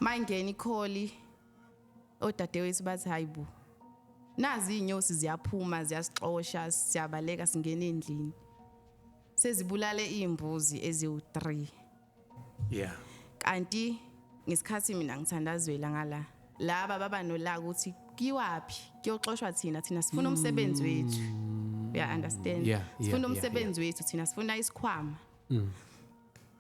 mayingena ikholi odadewethu bathi hayibo nazi izinyosi ziyaphuma ziyasixosha siyabaleka singena endlini sezibulale izimbuzi eziwu3 yeah kanti ngesikhathi mina ngithandazwela ngala laba baba nolaka ukuthi kiwaphi kuyoxoshwa thina thina sifuna umsebenzi mm. wethu uya understand sifuna umsebenzi wethu thina sifuna isikhwama mm.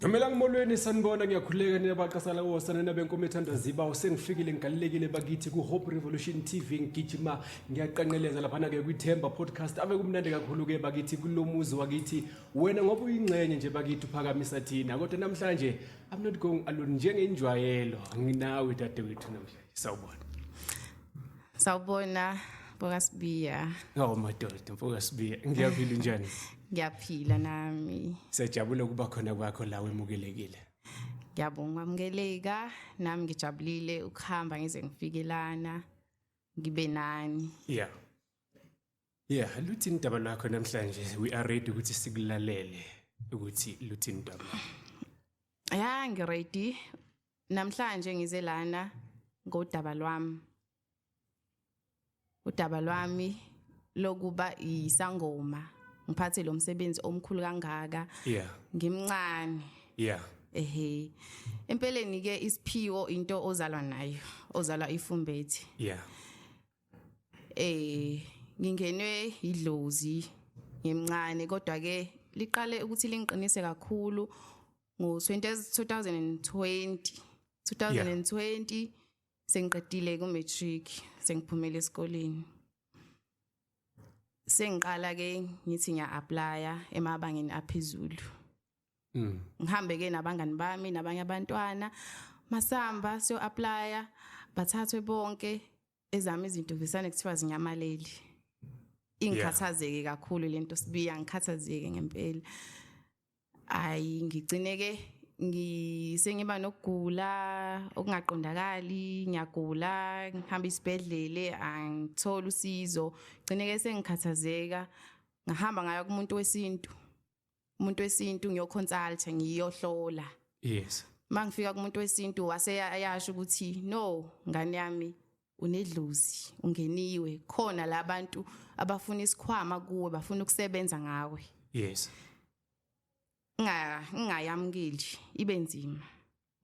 Ngamela ngimolweni sanibona ngiyakhuleka nina baqasala wosana nina benkomo ethanda ziba usengifikile ngigalelekile bakithi ku Hope Revolution TV ngigijima ngiyaqanqeleza lapha na ke kwithemba podcast ave kumnandi kakhulu ke bakithi kulomuzi wakithi wena ngoba uyingxenye nje bakithi uphakamisa thina kodwa namhlanje I'm not going alone njengenjwayelo nginawe dadewethu namhlanje sawubona Sawubona mfoka Sibiya. Ngawo madoda mfoka Sibiya. Ngiyaphila njani? Ngiyaphila nami. Sejabule ukuba khona kwakho la wemukelekile. Ngiyabonga wamukeleka nami ngijabulile ukuhamba ngize ngifike lana ngibe nani. Yeah. Yeah, luthini indaba lakho namhlanje? We are ready ukuthi sikulalele ukuthi luthini indaba. Yeah, ngiready Namhlanje ngize lana ngodaba lwami. Udaba lwami lokuba isangoma ngiphathe lo msebenzi omkhulu kangaka. Yeah. Ngimncane. Yeah. Ehhe. Empeleni ke isiphiwo into ozalwa nayo, ozalwa ifumbethi. Yeah. Eh ngingenwe idlozi ngimncane kodwa ke liqale ukuthi lingiqinise kakhulu ngo 2020 2020 sengiqedile ku matric sengiphumele esikoleni sengiqala ke ngithi ngiya applya emabangeni aphezulu mm. ngihambe ke nabangani bami nabanye abantwana masamba siyo applya bathathwe bonke ezami izinto visane kuthiwa zinyamaleli ingikhathazeke kakhulu lento sibiya ngikhathazeke ngempela ayi ngicineke ngisengiba nokugula okungaqondakali ngiyagula ngihamba isibhedlele angithola usizo gcineke sengikhathazeka ngahamba ngayo kumuntu wesintu umuntu wesintu ngiyoconsulta ngiyohlola yes mangifika kumuntu wesintu wase ayasho ukuthi no ngane yami unedlozi ungeniwe khona labantu abafuna isikhwama kuwe bafuna ukusebenza ngawe yes nga ngayamukeli ibe nzima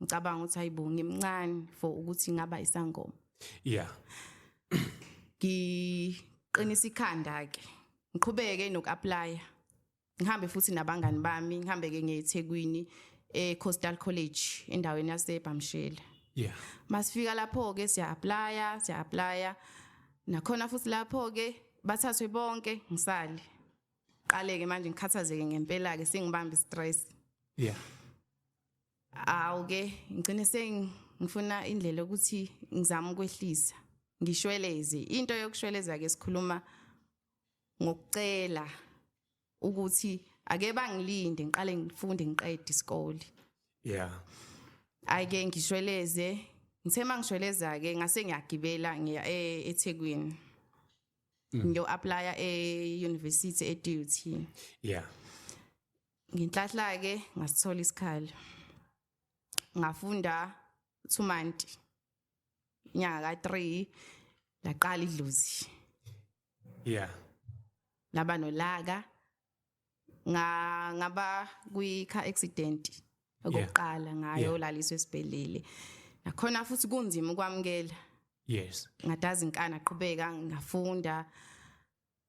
ngicabanga ukuthi hayibo ngimncane for ukuthi ngaba isangoma yeah ngiqinisa ikhanda ke ngiqhubeke nokuapply ngihambe futhi nabangani bami ngihambe ke ngeThekwini eCoastal College endaweni yaseBhamshela yeah masifika lapho ke siya apply siya apply nakhona futhi lapho ke bathathwe bonke ngisale qale ke manje ngikhathazeke ngempela ke sengibamba istress yeah awu ke ngigcine sengifuna indlela ukuthi ngizama ukwehlisa ngishweleze into yokushweleza ke sikhuluma ngokucela ukuthi ake bangilinde ngiqale ngifunde ngiqede isikole yeah ayike ngishweleze ngithe mangishweleza ke ngase ngiyagibela ngiya e-, eThekwini mm. ngiyo applya e university e DUT yeah ngenhlahla-ke ngasithola isikhali ngafunda two month nyaka ka-three laqala idlozi yeah laba nolaka nga ngaba kwi car accident okokuqala ngayo laliswe esibhedlele nakhona futhi kunzima ukwamukela yes ngadazi inkana qhubeka ngafunda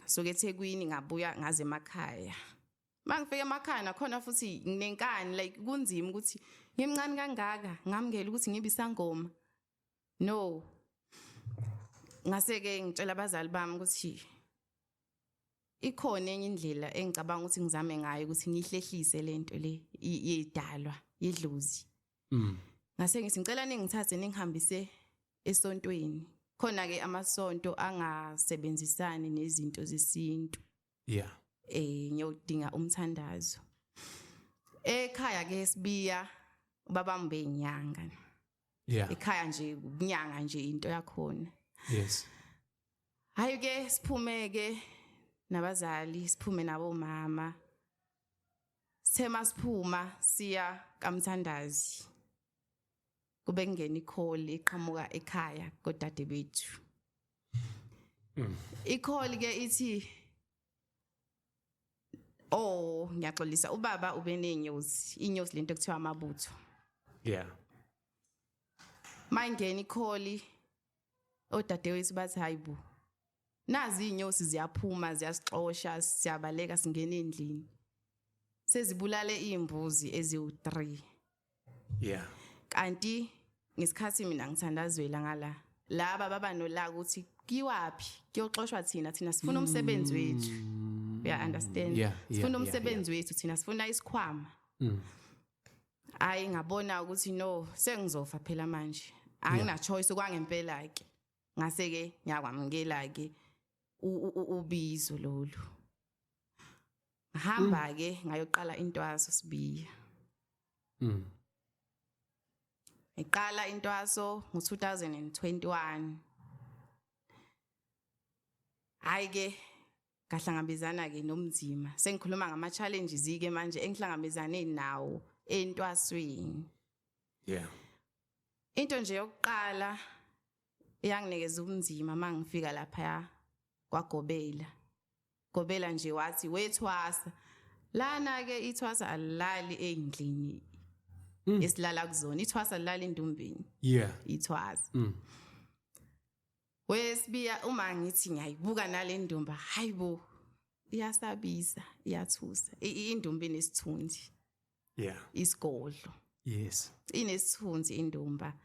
ngasuka ethekwini ngabuya ngaze emakhaya uma ngifika emakhaya nakhona futhi nginenkani like kunzima ukuthi ngimncane kangaka ngamukela ukuthi ngibe isangoma no ngase-ke ngitshela abazali bami ukuthi ikhona enye indlela engicabanga ukuthi ngizame ngayo ukuthi ngihlehlise le nto le yedalwa yedlozi mm. ngase ngithi ngicela ningithathe ningihambise esontweni khona ke amasonto angasebenzisani nezinto zesintu yeah eh ngiyodinga umthandazo ekhaya ke sibiya baba mbe inyanga yeah ekhaya nje inyanga nje into yakhona yes hayi ke siphumeke nabazali siphume nabo mama sithema siphuma siya kamthandazi kube kungena ikholi iqhamuka ekhaya kodade bethu mm. ikholi ke ithi oh ngiyaxolisa ubaba ubenenyosi inyosi lento kuthiwa amabutho yeah mayingena ikholi odadewethu bathi hayibo nazi inyosi ziyaphuma ziyasixosha siyabaleka singena endlini sezibulale imbuzi eziwu3 yeah kanti ngesikhathi mina ngithandazwela ngala laba baba nolaka ukuthi kiwaphi kuyoxoshwa thina thina sifuna umsebenzi mm. wethu uya understand yeah, yeah, sifuna umsebenzi yeah, yeah. wethu thina sifuna isikhwama mm. ayi ngabona ukuthi no sengizofa phela manje angina choice kwangempela ke ngase ke ngiyakwamukela ke ubizo lolu ngahamba mm. ke ngayoqala intwaso sibiya mm ngiqala intwaso ngo2021 hayi ke ngahlangabezana ke nomzima sengikhuluma ngama challenges ke manje engihlangabezane nawo entwasweni yeah into nje yokuqala iyanginikeza ubunzima uma ngifika laphaya kwagobela gobela nje wathi wethwasa lana-ke ithwasa alilali ey'ndlini mm. esilala kuzona ithwasa lilala endumbeni yeah. ithwasa mm. wesibiya uma ngithi ngiyayibuka nale ndumba hayi bo iyasabisa iyathusa indumba inesithunzi yeah. isigodlo yes inesithunzi indumba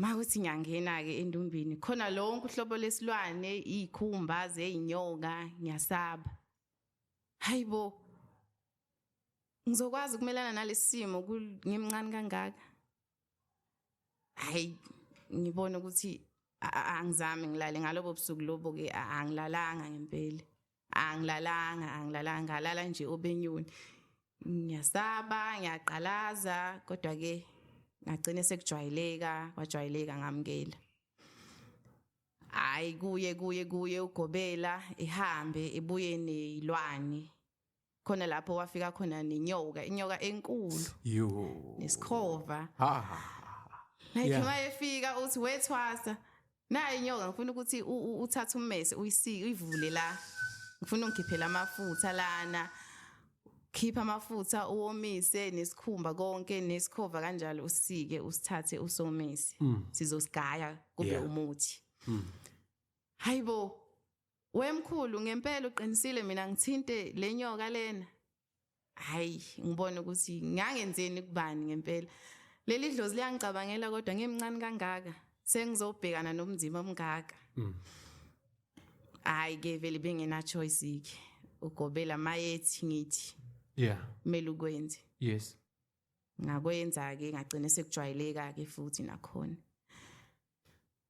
mawuthi ngiyangena-ke endumbini khona lonke uhlobo lesilwane iy'khumba zey'nyoka ngiyasaba hayi bo ngizokwazi ukumelana nalesi simo ngimncane kangaka hayi ngibona ukuthi angizami ngilale ngalobo busuku lobo-ke angilalanga ngempela angilalanga angilalanga ngalala nje obenyoni ngiyasaba ngiyaqalaza kodwa ke ngagcina sekujwayeleka kwajwayeleka ngamukela hayi kuye kuye kuye ugobela ihambe ibuye nezilwane khona lapho wafika khona nenyoka inyoka enkulu yo nesikhova ha like yeah. mayefika uthi wethwasa nayo inyoka ngifuna ukuthi uthathe ummese uyisike uyivule la ngifuna ungikhiphela amafutha lana khipha amafutha uwomise nesikhumba konke nesikhova kanjalo usike usithathe usomise mm. sizosigaya kube yeah. umuthi mm. hayibo Wemkhulu ngempela uqinisile mina ngithinte lenyoka lena. Hayi, ngibona ukuthi ngangenzeni kubani ngempela. Leli dlozi liyangicabangela kodwa ngimncane kangaka. Sengizobhekana nomzimba omngaka. Mm. Hayi ke vele bengena choice ke. Ugobela mayethi ngithi. Yeah. Mele ukwenze. Yes. Ngakwenza ke ngagcina sekujwayeleka ke futhi nakhona.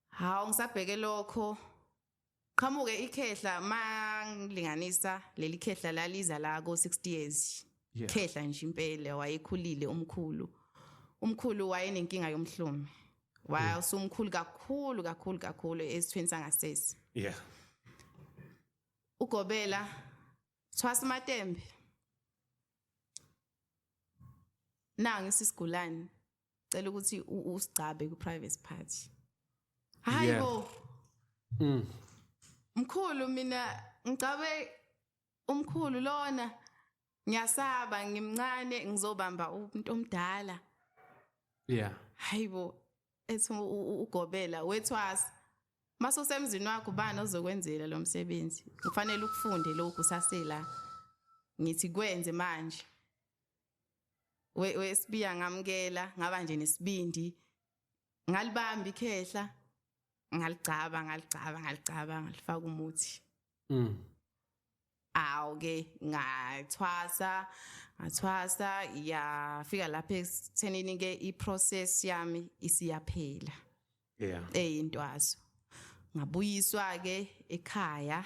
Hawu ngisabheke lokho qhamuke ikhehla mangilinganisa leli khehla laliza la ko 60 years yeah. khehla nje impela wayekhulile umkhulu umkhulu wayenenkinga yomhlume wasumkhulu kakhulu kakhulu kakhulu esithweni sangasese yeah ugobela thwasa matembe nangi sisigulane cela ukuthi usigcabe ku private party hayi bo mm. mkhulu mina ngigcabe umkhulu lona ngiyasaba ngimncane ngizobamba umuntu omdala yeah hayi bo ethi ugobela wethwasa mase usemzini wakho ubani ozokwenzela lo msebenzi kufanele ukufunde lokhu sasela ngithi kwenze manje we wesibiya ngamkela ngaba nje nesibindi ngalibamba ikhehla ngaligcaba ngaligcaba ngaligcaba ngalifaka umuthi mm awu ke ngathwasa ngathwasa yafika lapha ekuthenini ke iprocess yami isiyaphela yeah eyintwazo ngabuyiswa ke ekhaya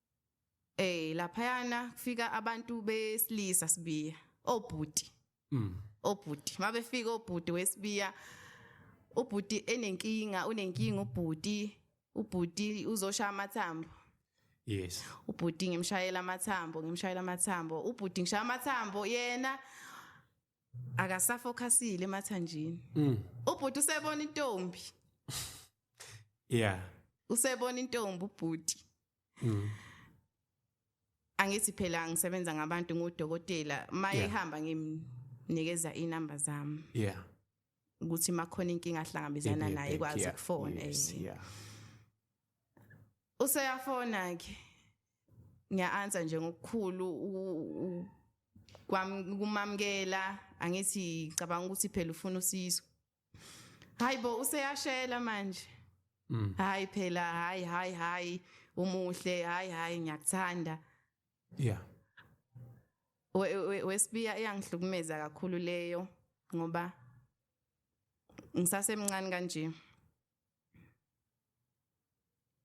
eh laphayana kufika abantu besilisa sibiya obhuti mm obhuti mabefika obhuti wesibiya ubhuti enenkinga unenkinga ubhuti ubhuti uzoshaya amathambo yes ubhuti ngimshayela amathambo ngimshayela amathambo ubhuti ngishaya amathambo yena akasafokhasile emathanjini mm. ubhuti usebona intombi yeah usebona intombi ubhuti mm. angithi phela ngisebenza ngabantu ngudokotela maye ihamba yeah. ngimnikeza inamba zami yeah ukuthi makhona inkinga ahlangabezana naye kwazi ukufona eh. yes, yeah useyafona ke ngiya-answer nje ngokukhulu kumamukela angithi cabanga ukuthi phela ufuna usizo hayi bo useyashela manje mm. hayi phela hayi hayi hayi umuhle hayi hayi ngiyakuthanda yeah wesibiya iyangihlukumeza kakhulu leyo ngoba ngisasemncane kanje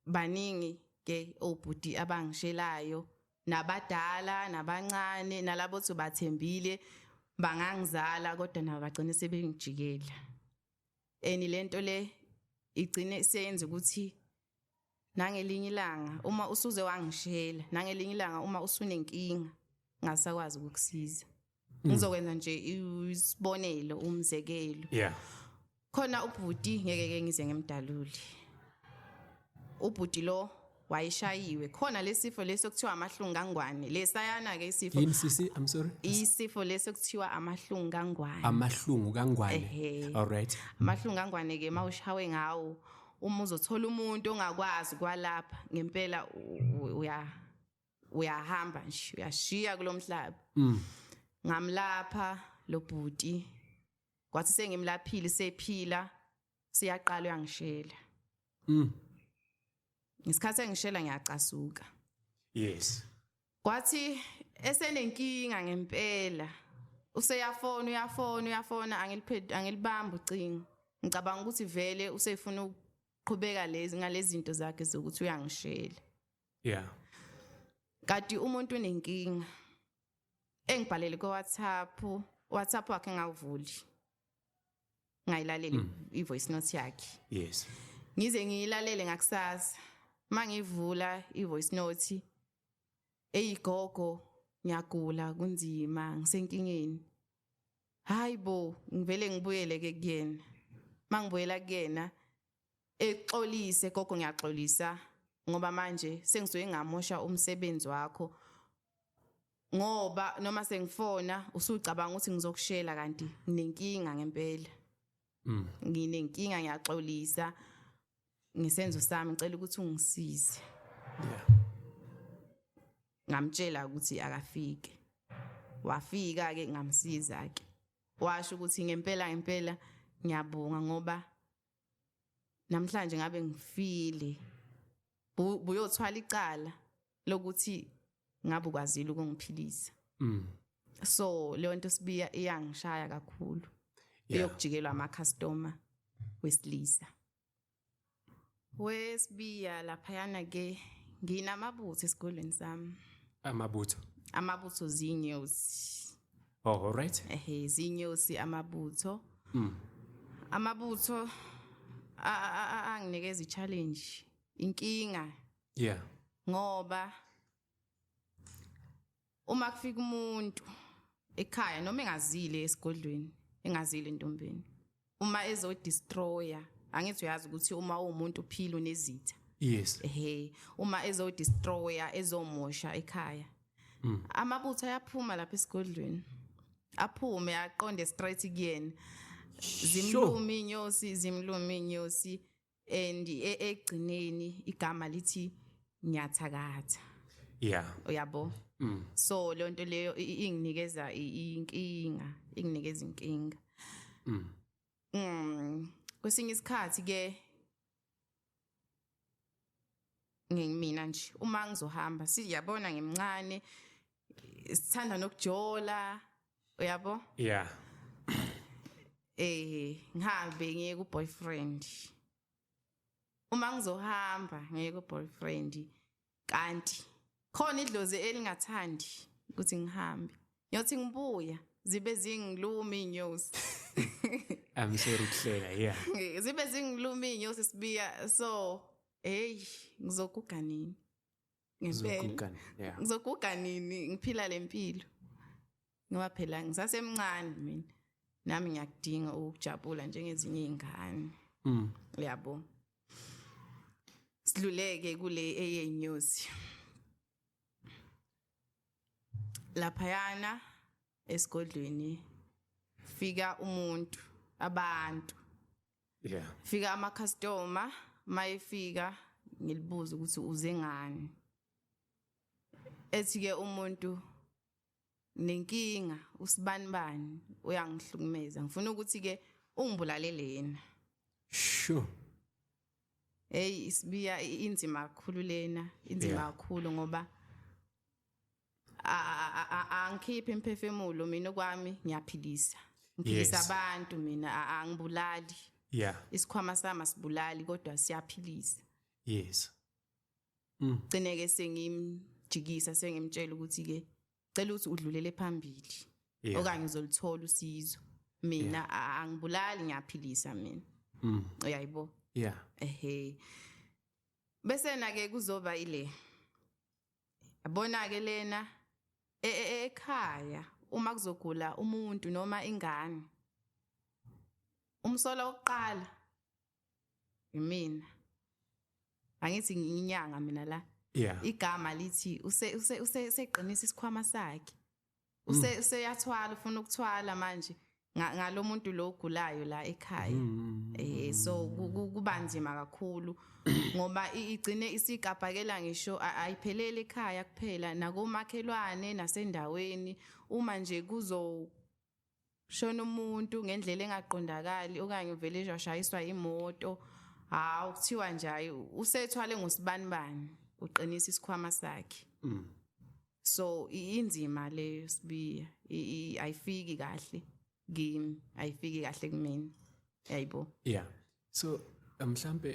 baningi ke obhuti abangishelayo nabadala nabancane nalabo othi bathembile bangangizala kodwa nabo bagcine sebengijikela and lento le igcine seyenza ukuthi nangelinye ilanga uma usuze wangishela nangelinye ilanga uma usunenkinga ngasakwazi ukukusiza mm. ngizokwenza nje isibonelo umzekelo yeah khona ubhuti ngeke ke ngize ngimdaluli ubhuti lo wayishayiwe khona lesifo leso kuthiwa amahlungu kangwane lesayana ke isifo yini sisi i'm sorry isifo leso kuthiwa amahlungu kangwane amahlungu kangwane all right amahlungu kangwane ke mawushawe ngawo uma uzothola umuntu ongakwazi kwalapha ngempela uya uyahamba nje uyashiya kulomhlaba mm. ngamlapha lo bhuti kwathi sengimlaphile sephila siyaqala uyangishela mm ngesikhathi engishela ngiyacasuka yes kwathi esenenkinga ngempela useyafona uyafona uyafona angiliphethe angilibamba ucingo ngicabanga ukuthi vele usefuna ukuqhubeka lezi ngalezi zinto zakhe zokuthi uyangishela yeah kati umuntu unenkinga engibhalele ku WhatsApp WhatsApp wakhe ngawuvuli ngayilaleli mm. i voice note yakhe yes ngize ngiyilalele ngakusasa mangivula i voice note eyigogo ngiyagula kunzima ngisenkingeni hayi bo ngivele ngibuyele ke kuyena mangibuyela kuyena exolise gogo ngiyaxolisa ngoba manje sengisuke ngamosha umsebenzi wakho ngoba noma sengifona usucabanga ukuthi ngizokushela kanti nginenkinga ngempela mm. nginenkinga ngiyaxolisa ngisenzo sami ngicela ukuthi ungisize yeah ngamtshela ukuthi akafike wafika ke ngamsiza ke washo ukuthi ngempela ngempela ngiyabonga ngoba namhlanje ngabe ngifile buyothwala icala lokuthi ngabe ukwazile ukungiphilisa mm. so leyo nto sibiya iyangishaya kakhulu eyokujikelwa yeah. amacustomer wesilisa wesibiya laphayana ke nginamabutho esikolweni sami amabutho amabutho zinyosi oh alright ehe zinyosi amabutho mm. amabutho anginikeza i-challenge inkinga yeah ngoba uma kufika umuntu ekhaya noma engazile esigodlweni engazile entombeni uma ezo destroyer angithi uyazi ukuthi uma umuntu uphila unezitha yes ehe uma ezo destroyer ezomosha ekhaya mm. amabutho ayaphuma lapha esigodlweni aphume aqonde straight kuyena zimlumi inyosi zimlumi inyosi and e, ekugcineni igama lithi ngiyathakatha yeah uyabo mm. so le nto leyo inginikeza inkinga inginikeza inkinga mm. mm kwesinye isikhathi ke ngimina nje uma ngizohamba siyabona ngimncane sithanda nokujola uyabo yeah eh ngihambe ngiye ku boyfriend uma ngizohamba ngiye ku boyfriend kanti khona idlozi elingathandi ukuthi ngihambe ngiyothi ngibuya zibe zingiluma inyosi I'm sure ukuhlela yeah zibe zingiluma inyosi sibiya so hey ngizokuganini ngempela ngizoguga nini ngiphila le mpilo ngoba phela ngisasemncane mina nami ngiyakudinga ukujabula njengezinye iy'ngane mm. uyabo sidluleke kule eyenyosi laphayana esigodlweni fika umuntu abantu yeah fika ama customer mayefika ngilibuza ukuthi uze ngani ethi ke umuntu nenkinga usibani bani uyangihlukumeza ngifuna ukuthi ke ungibulalele yena sure hey isibiya inzima kakhulu lena inzima kakhulu ngoba angikhiphi imphefumulo mina okwami ngiyaphilisa ngiphilisa abantu mina angibulali yeah isikhwama sami asibulali kodwa siyaphilisa yes mm. gcine ke sengimjikisa sengimtshela ukuthi ke cela ukuthi udlulele phambili yeah. okanye uzolithola usizo mina yeah. angibulali ngiyaphilisa mina mm. uyayibo yeah ehe bese na ke kuzoba ile yabona ke lena e, e, e, ekhaya uma kuzogula umuntu noma ingane umsola oqala yimina angithi nginyanga mina la yeah. igama lithi useqinisa isikhwama sakhe use mm. useyathwala ufuna ukuthwala manje ngalomuntu lo ogulayo la ekhaya mm. eh so kuba nzima kakhulu ngoba igcine isigabhakela ngisho ayiphelele ekhaya kuphela nakomakhelwane nasendaweni uma nje kuzo shona umuntu ngendlela engaqondakali okanye uvele nje washayiswa imoto hawu kuthiwa nje hayi usethwale ngosibanibani uqinisa isikhwama sakhe mm. so inzima leyo sibiya ayifiki kahle kimi ayifiki kahle kumina yayibo yeah so mhlambe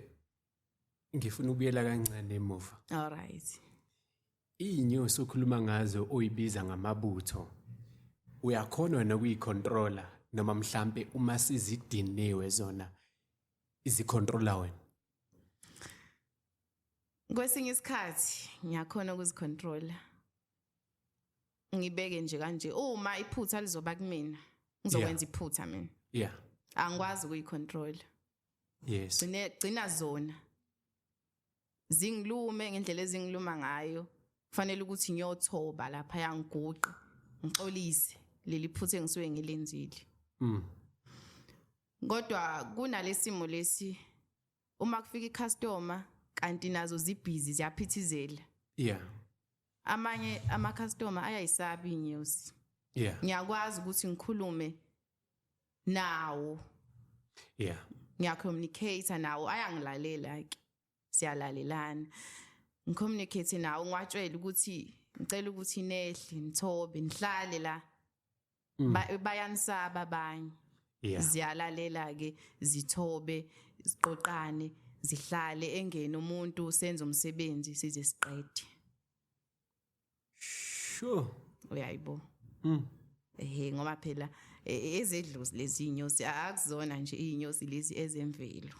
ngifuna ukuyela kancane emuva all right iyinyosi okhuluma ngazo oyibiza ngamabutho uyakhona wena ukuyicontroller noma mhlambe uma sizidiniwe zona izicontroller wena kwesinye isikhathi ngiyakhona ukuzicontroller ngibeke nje kanje uma iphutha lizoba kumina ngizokwenza iphutha mina yeah angikwazi ukuyicontroller yes gcine gcina zona zingilume ngendlela ezingiluma ngayo kufanele ukuthi ngiyothoba lapha yangiguqa ngixolise leli phuthe engisuke ngilenzile mm kodwa kunalesimo lesi uma kufika icustomer kanti nazo zibhizi ziyaphithizela yeah amanye ama customer ayayisabi inyosi yeah ngiyakwazi ukuthi ngikhulume nawo yeah ngiyacommunicate nawo ayangilalela ke siyalalelana ngicommunicate nawo ngiwatshela ukuthi ngicela ukuthi nehle ngithobe ngihlale la mm. bayanisaba abanye ziyalalela ke zithobe siqoqane zihlale engene umuntu senze umsebenzi size siqede sure uyayibo mm. ehe ngoba phela e, e, ezedlozi lezi inyosi akuzona nje inyosi lezi ezemvelo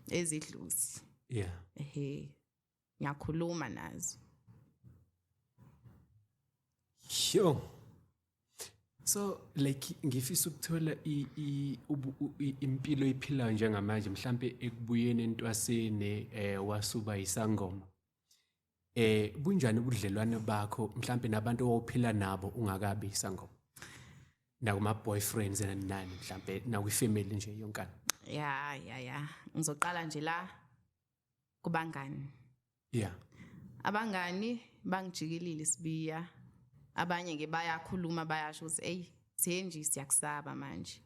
ezidlozi yeah ehe ngiyakhuluma nazo sure so like ngifisa ukuthola impilo iphilayo njengamanje mhlambe ekubuyeni entwasini eh wasuba isangoma eh bunjani ubudlelwane bakho mhlambe nabantu owuphila nabo ungakabi sangoma nakuma boyfriends and nani mhlambe nakwi family nje yonkana ya ya ya ngizoqala nje la kubangani yeah abangani bangijikilile sibiya abanye ke bayakhuluma bayasho ukuthi hey senji siyakusaba manje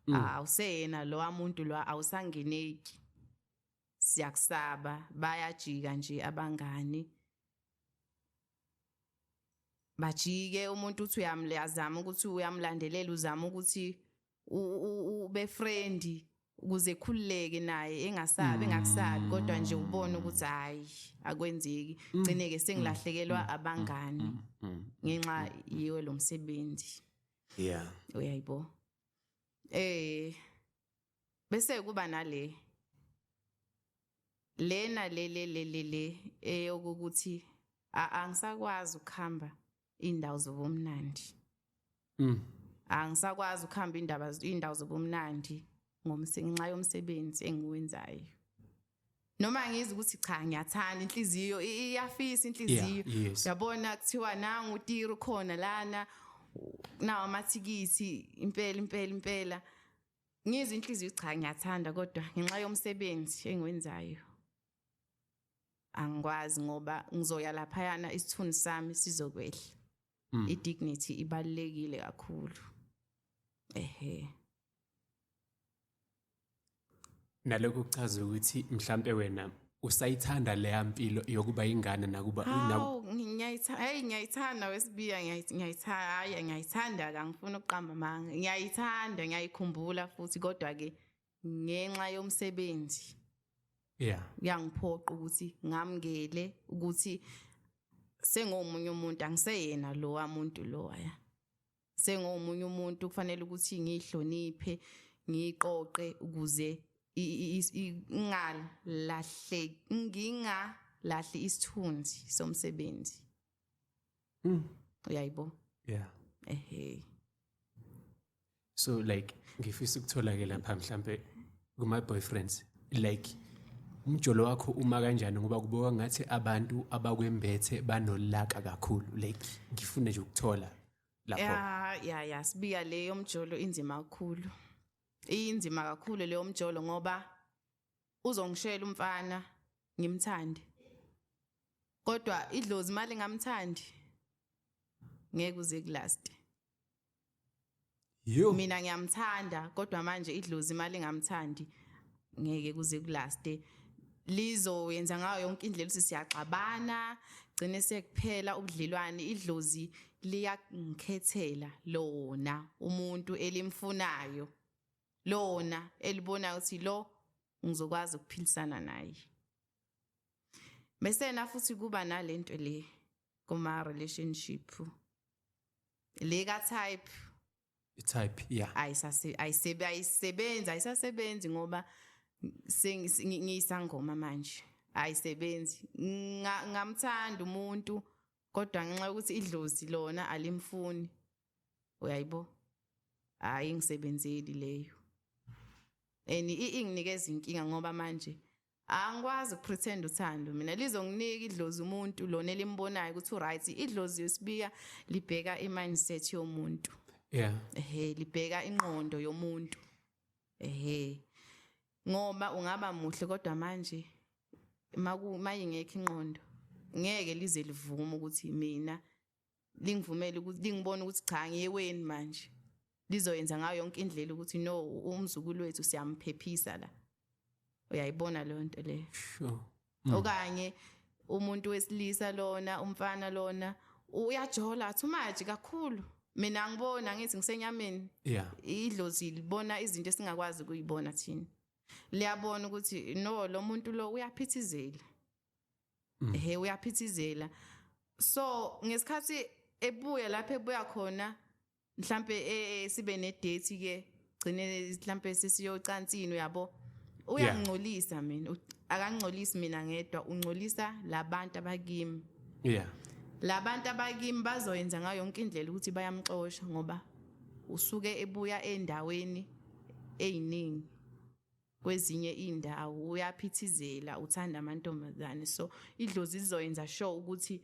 mm. awuseyena ah, lo amuntu lo awusangeneki siyakusaba bayajika nje abangani bajike umuntu uthi uyamlazama ukuthi uyamlandelela uzama ukuthi ube friendly ukuze khululeke naye engasabi engakusabi mm. kodwa nje ubone ukuthi hayi akwenzeki mm. gcine ke sengilahlekelwa mm. abangani ngenxa yiwe lo msebenzi yeah uyayibo eh bese kuba nale lena le le le le le eyokuthi angisakwazi ukuhamba indawo zobumnandi mm angisakwazi ukuhamba indaba indawo zobumnandi ngomsenxa yomsebenzi engiwenzayo noma ngizi ukuthi cha ngiyathanda inhliziyo iyafisa inhliziyo yabona kuthiwa nangu utiro khona lana nawo amathikithi impela impela impela ngizwe inhliziyo cha ngiyathanda kodwa ngenxa yomsebenzi engiwenzayo angikwazi ngoba ngizoya laphayana isithuni sami sizokwehla mm. i-dignity ibalulekile kakhulu ehe nalokho kuchaza ukuthi mhlampe wena usayithanda leya mpilo yokuba ingane nakuba ngiyayithanda ngiyayithanda wesibiya ngiyayithanda ngiyayithanda kangifuna ukuqamba manga ngiyayithanda ngiyayikhumbula futhi kodwa ke ngenxa yomsebenzi yeah uyangiphoqa ukuthi ngamngele ukuthi sengomunye umuntu angiseyena lo wamuntu lo ya sengomunye umuntu kufanele ukuthi ngihloniphe ngiqoqe ukuze ingalahle ngingalahli isithunzi somsebenzi mm. uyayibo yeah ehe so like ngifisa ukuthola ke lapha mhlambe kuma boyfriends like umjolo wakho uma kanjani ngoba kuboka ngathi abantu abakwembethe banolaka kakhulu like ngifune nje ukuthola lapho ya ya ya sibiya leyo mjolo inzima kakhulu inzima kakhulu leyo mjolo ngoba uzongishela umfana ngimthande kodwa idlozi imali ngamthandi ngeke uze kulast Yo. Mina ngiyamthanda kodwa manje idlozi imali ngamthandi ngeke kuze kulaste lizoyenza ngayo yonke indlela ukuthi siyaxabana gcine sekuphela ubudlelwane idlozi liyakukhethela lona umuntu elimfunayo lona elibonayo ukuthi lo ngizokwazi ukuphilisana naye mesena futhi kuba nalento le kuma relationship le ka type i type yeah ayisase ayisebe ayisebenza ayisasebenzi ngoba ngiyisangoma manje ayisebenzi ngamthanda umuntu kodwa ngenxa yokuthi idlozi lona alimfuni uyayibo hayi ngisebenzeli leyo and inginikeza inkinga ngoba manje angikwazi ukupretend uthando mina lizonginika idlozi umuntu lona elimbonayo ukuthi uright idlozi yosibiya libheka imindset yomuntu yeah ehe libheka inqondo yomuntu ehe ngoba ungaba muhle kodwa manje maku mayingekho inqondo ngeke lize livume ukuthi mina lingivumele ukuthi lingibone ukuthi cha ngiyeweni manje lizoyenza ngayo yonke indlela ukuthi no umzukulu wethu siyamphephisa la uyayibona leyo nto leyo sure mm. okanye umuntu wesilisa lona umfana lona uyajola athi umaji kakhulu mina ngibona ngithi ngisenyameni yeah idlozi libona izinto esingakwazi kuyibona thina liyabona ukuthi no lo muntu lo uyaphithizela mm. he uyaphithizela so ngesikhathi ebuya lapho ebuya khona mhlambe e, e, sibe ne date ke gcine mhlambe sisiyocansini uyabo uyangcolisa mina akangcolisi mina ngedwa ungcolisa labantu abakimi yeah labantu abakimi bazoyenza ngayo yonke indlela ukuthi bayamxosha ngoba usuke ebuya endaweni eyiningi kwezinye iy'ndawo uyaphithizela uthanda amantombazane so idlozi lizoyenza sure ukuthi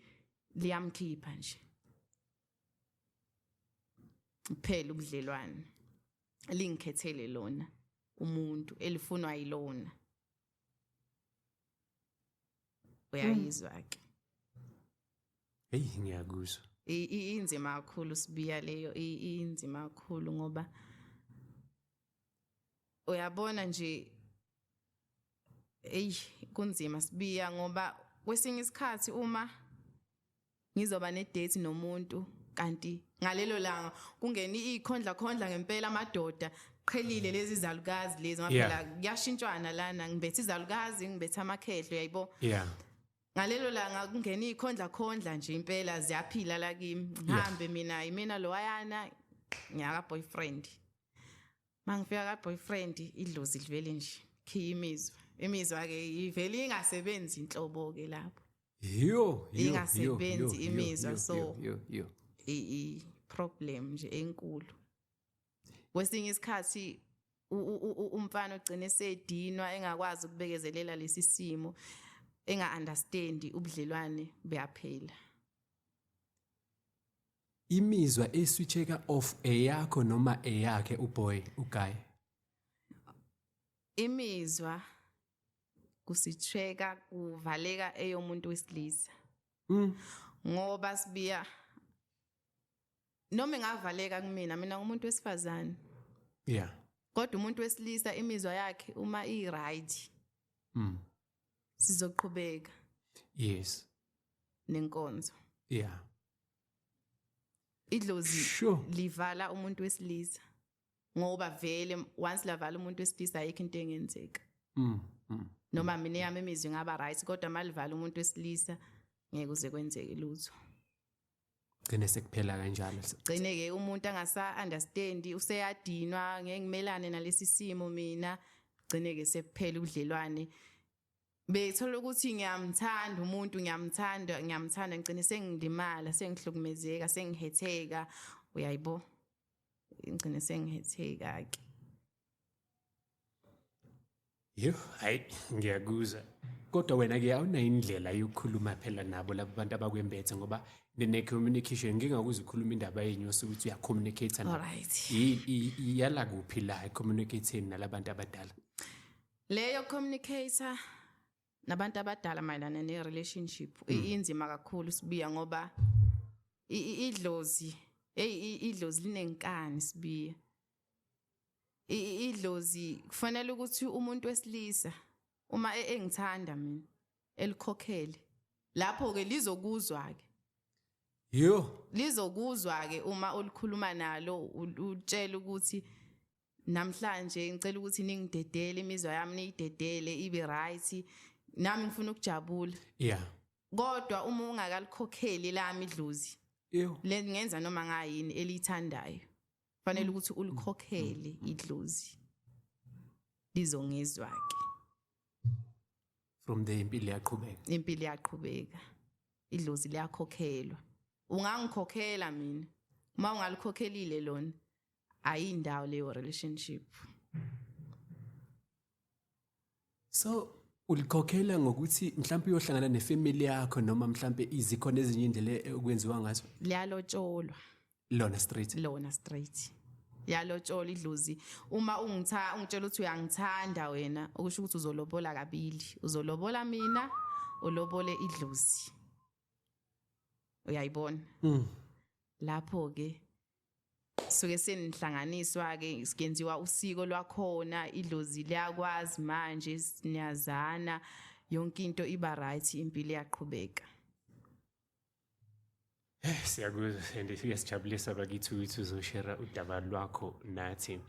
liyamkhipha nje kuphela ubudlelwane lingikhethele lona umuntu elifunwa yilona uyayizwa ke eyi ngiyakuzwa inzima kakhulu sibiya leyo inzima kakhulu ngoba uyabona nje eyi kunzima sibiya ngoba kwesinye isikhathi uma ngizoba nedate nomuntu kanti ngalelo langa kungena ikhondla khondla ngempela amadoda qhelile lezi zalukazi lezi ngaphela kuyashintshwana lana ngibethe izalukazi ngibethe amakhehlo yayibo yeah ngalelo langa kungena ikhondla khondla nje impela ziyaphila la kimi ngihambe mina yimina lowayana ngiyaka boyfriend mangifika ka boyfriend idlozi livele nje khiya imizwa imizwa ke ivele ingasebenzi inhlobo ke lapho yiyo ingasebenzi imizwa so i problem nje enkulu kwesinye isikhathi umfana ogcine sedinwa engakwazi ukubekezelela lesi simo enga-understandi ubudlelwane buyaphela Imizwa eswitcheka off eyakho noma eyakhe uboy uguy. Imizwa kusitsheka kuvaleka eyomuntu wesilisa. Mm. Ngoba sibiya noma engavaleka kumina mina ngumuntu wesifazane. Yeah. Kodwa umuntu wesilisa imizwa yakhe uma i right. Mm. Sizoqhubeka. Yes. Nenkonzo. Yeah. idlozi sure. livala umuntu wesilisa ngoba vele once lavala umuntu wesilisa ayikho into engenzeka mm, mm, noma mina yami imizwi ngaba right kodwa malivala umuntu wesilisa ngeke uze kwenzeke lutho gcine sekuphela kanjalo gcine ke umuntu angasa understand useyadinwa ngeke ngimelane nalesi simo mina gcine ke sekuphela ubudlelwane Bethola ukuthi ngiyamthanda umuntu ngiyamthanda ngiyamthanda ngicine sengilimala sengihlukumezeka sengihetheka uyayibo ngicine sengihetheka ke Yho hayi ngiyakuzwa kodwa wena ke awunayo indlela yokukhuluma phela nabo labo bantu abakwembethe ngoba nene communication ngingakuzwa ukhuluma indaba yenyu osukuthi uya communicate na right yala kuphi la communicating nalabantu abadala leyo communicator nabantu abadala mayelana ne relationship mm. inzima kakhulu sibiya ngoba idlozi hey idlozi linenkani sibiya idlozi kufanele ukuthi umuntu wesilisa uma e-, engithanda mina elikhokhele lapho ke lizokuzwa ke Yo. Lizokuzwa ke uma ulikhuluma nalo utshela ukuthi namhlanje ngicela ukuthi ningidedele imizwa yami niyidedele ibe right nami ngifuna ukujabula yeah kodwa uma ungakalikhokheli lami idlozi le ngenza noma ngayini elithandayo fanele mm. ukuthi ulikhokhele mm. idlozi lizongizwa ke from the impilo yaqhubeka impilo yaqhubeka idlozi liyakhokhelwa ungangikhokhela mina uma ungalikhokhelile lona ayindawo leyo relationship so ulikhokhela ngokuthi mhlawumbe uyohlangana nefamily yakho noma mhlawumbe izikhona ezinye indlela e-, okwenziwa ngazo liyalotsholwa lona straight lona straight yalotshola idlozi uma ungitha ungitshela ukuthi uyangithanda wena okusho ukuthi uzolobola kabili uzolobola mina ulobole idlozi uyayibona mm. lapho ke suke senihlanganiswa ke sikenziwa usiko lwakhona idlozi liyakwazi manje siniyazana yonke into iba right impilo iyaqhubeka Eh siyakuzwa and siyasijabulisa bakithi ukuthi uzoshare udaba lwakho nathi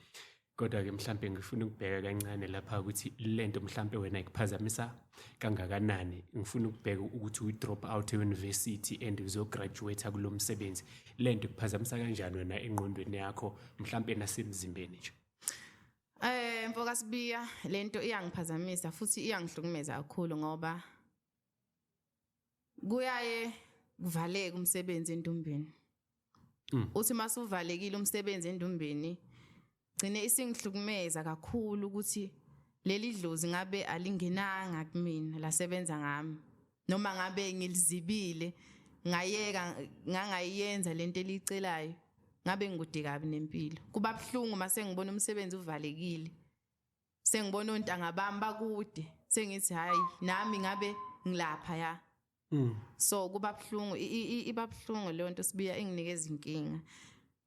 Kodwa-ke mhlampe ngifuna ukubheka kancane lapha ukuthi le nto mhlampe wena ikuphazamisa kangakanani. Ngifuna ukubheka ukuthi uyi-drop out e-university and uzograduate-a kulo msebenzi. Le nto ikuphazamisa kanjani wena engqondweni yakho mhlampe nasemzimbeni nje? Eh mfoka Sibiya lento iyangiphazamisa futhi iyangihlukumeza kakhulu ngoba kuyaye kuvaleke umsebenzi endumbeni mm. uthi masuvalekile umsebenzi endumbeni gcine isingihlukumeza kakhulu ukuthi leli dlozi ngabe alingenanga kumina lasebenza ngami noma ngabe ngilizibile ngayeka ngangayenza lento elicelayo ngabe ngikude kabi nempilo kuba buhlungu mase ngibona umsebenzi uvalekile sengibona ontanga bami bakude sengithi hayi nami ngabe ngilapha ya mm. so kuba buhlungu iba buhlungu leyo nto sibuya inginikeza inkinga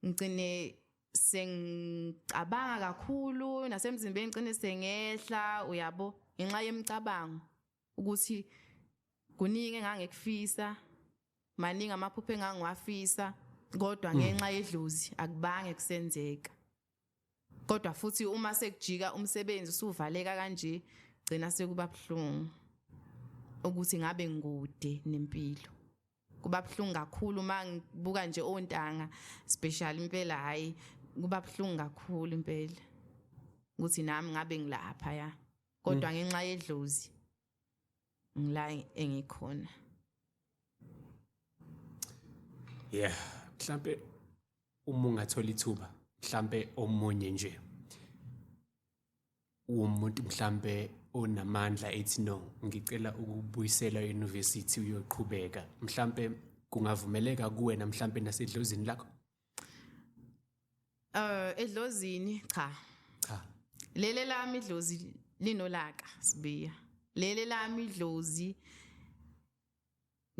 ngicine sengicabanga kakhulu nasemzimbeni ngicine sengehla uyabo ngenxa yemicabango ukuthi kuningi engangekufisa maningi amaphupho engangiwafisa kodwa mm. ngenxa yedlozi akubange kusenzeka kodwa futhi uma sekujika umsebenzi usuvaleka kanje gcina sekuba buhlungu ukuthi ngabe ngikude nempilo kuba buhlungu kakhulu uma ngibuka nje ontanga special impela hayi kuba buhlungu kakhulu impela ukuthi nami ngabe ngilapha ya kodwa mm. ngenxa yedlozi ngila engikhona yeah mhlambe uma ungathola ithuba mhlambe omunye nje umuntu mhlambe onamandla ethi no ngicela ukubuyisela e-university uyoqhubeka mhlambe kungavumeleka kuwena mhlambe nasedlozini lakho Eh edlozini cha. Cha. Lele lami idlozi linolaka sibiya. Lele lami idlozi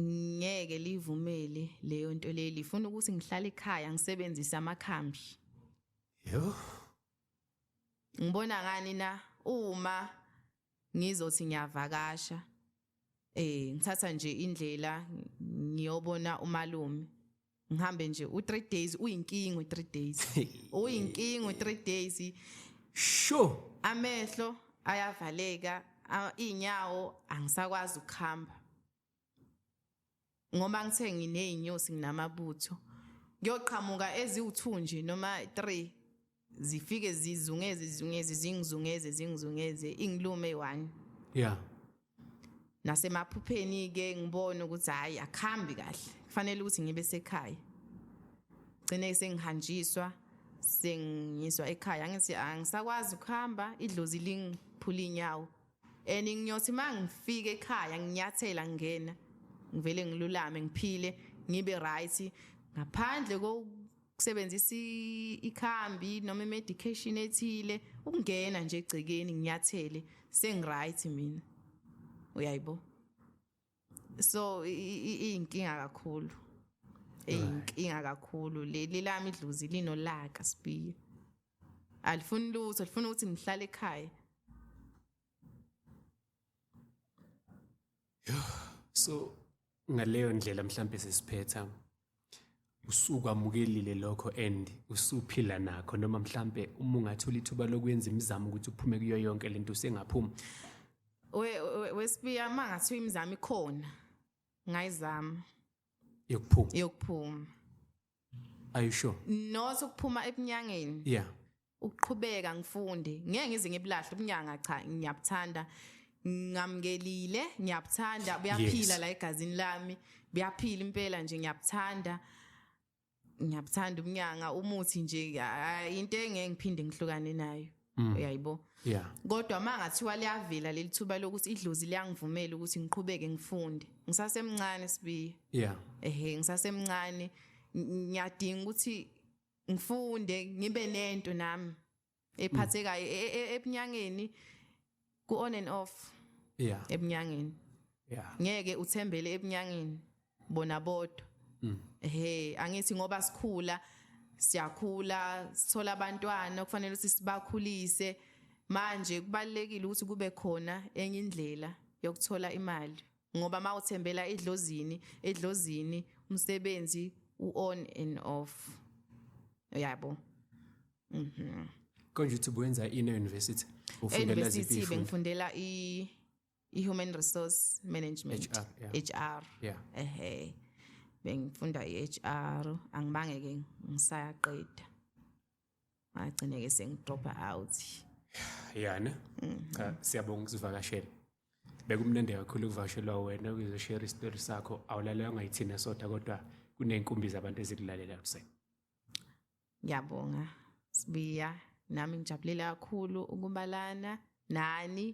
ngeke livumele leyo nto leli ifuna ukuthi ngihlale ekhaya ngisebenzise amakhambi. Yho. Ngibona ngani na uma ngizothi ngiyavakasha eh ngithatha nje indlela ngiyobona umalume ngihambe nje u3 days uyinkinga u3 days uyinkinga u3 days sho amehlo ayavaleka inyawo angisakwazi ukuhamba ngoba ngithe nginey'nyosi nginamabutho ngiyoqhamuka eziwu-two nje noma three zifike zizungeze zizungeze zingizungeze zingizungeze ingilume eyi-one ya yeah. nasemaphupheni-ke ngibone ukuthi hhayi akuhambi kahle kufanele ukuthi ngibe sekhaya gcine sengihanjiswa sengiswa ekhaya angithi angisakwazi ukuhamba idlozi lingiphula inyawo and ngiyothi mangifika ekhaya nginyathela ngingena ngivele ngilulame ngiphile ngibe right ngaphandle kokusebenzisa ikhambi noma imedication ethile ukungena nje egcekeni nginyathele sengiright mina uyayibo so iyinkinga kakhulu iyinkinga kakhulu leli lami idluzi linolaka sibiya alifuni lutho lifuna ukuthi ngihlale ekhaya so ngaleyo ndlela mhlambe sesiphetha usukwamukelile lokho and usuphila nakho noma mhlambe uma ungathola ithuba lokwenza imizamo ukuthi uphume kuyo yonke lento usengaphuma we wesibiya uma ngathiwa imizamo ikhona ngayizama yokuphuma yokuphuma are you sure not ukuphuma ebunyangeni yeah ukuqhubeka ngifunde ngeke ngize ngibulahle ubunyanga cha ngiyabuthanda ngamngelile ngiyabuthanda buyaphila la egazini lami buyaphila impela nje ngiyabuthanda ngiyabuthanda ubunyanga umuthi nje into engeke ngiphinde ngihlukane nayo mm. uyayibo yeah kodwa mangathiwa liyavela lelithuba lokuthi idlozi liyangivumela ukuthi ngiqhubeke ngifunde ngisasemncane sibiye yeah ehe ngisasemncane ngiyadinga ukuthi ngifunde ngibe nento nami ephathekayo e, e, ebunyangeni ku on and off yeah ebunyangeni yeah ngeke uthembele ebunyangeni bona bodwa mm. ehe angithi ngoba sikhula siyakhula sithola abantwana kufanele ukuthi sibakhulise manje kubalekile ukuthi kube khona enye indlela yokuthola imali ngoba uma uthembela edlozini edlozini umsebenzi u-on and off yabo mhm konje uthi wenza ini university ufundela ziphi bengifundela i i-human resource management HR yeah. HR yeah. ehe bengifunda i-HR angibange ke ngisayaqeda ngagcine-ke sengidropa out yana cha siyabonga ukuzivakashela bekumnandi kakhulu ukuvakashelwa wena ukuzoshere isitori sakho awulalelanga yithina sodwa kodwa kuney'nkumbi zabantu ezikulalela kusena ngiyabonga sibiya nami ngijabulile kakhulu ukubalana nani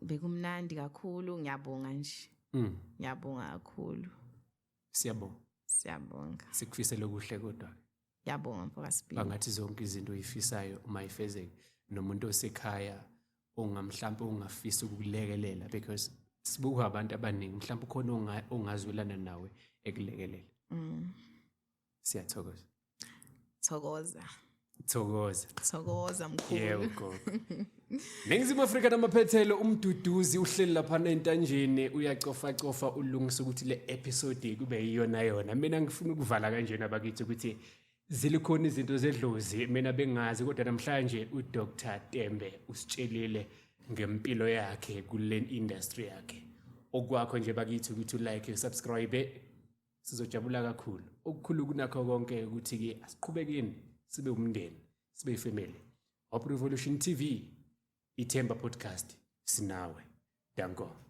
bekumnandi kakhulu ngiyabonga nje mm. ngiyabonga kakhulu siyabonga siyabonga sikufisela okuhle kodwa Yabonga mfokasibili. Bangathi zonke izinto oyifisayo uma ifezeke nomuntu osekhaya ongamhlampe ongafisa ukukulekelela because sibuka abantu abaningi mhlawumbe ukhona ongazwelana nawe ekulekelela mm. siyathokoza thokoza thokoza thokoza mkhulu yebo Ningizimu Afrika namaphethelo umduduzi uhleli lapha entanjeni uyacofa cofa ulungisa ukuthi le episode kube yiyona yona mina ngifuna ukuvala kanjena bakithi ukuthi zilikhona izinto zedlozi mina bengazi kodwa namhlanje uDr Tembe usitshelile ngempilo yakhe kule industry yakhe okwakho nje bakithi ukuthi ulike usubscribe sizojabula kakhulu okukhulu kunakho konke ukuthi ke asiqhubekeni sibe umndeni sibe ifamily Hope Revolution TV ithemba podcast sinawe danko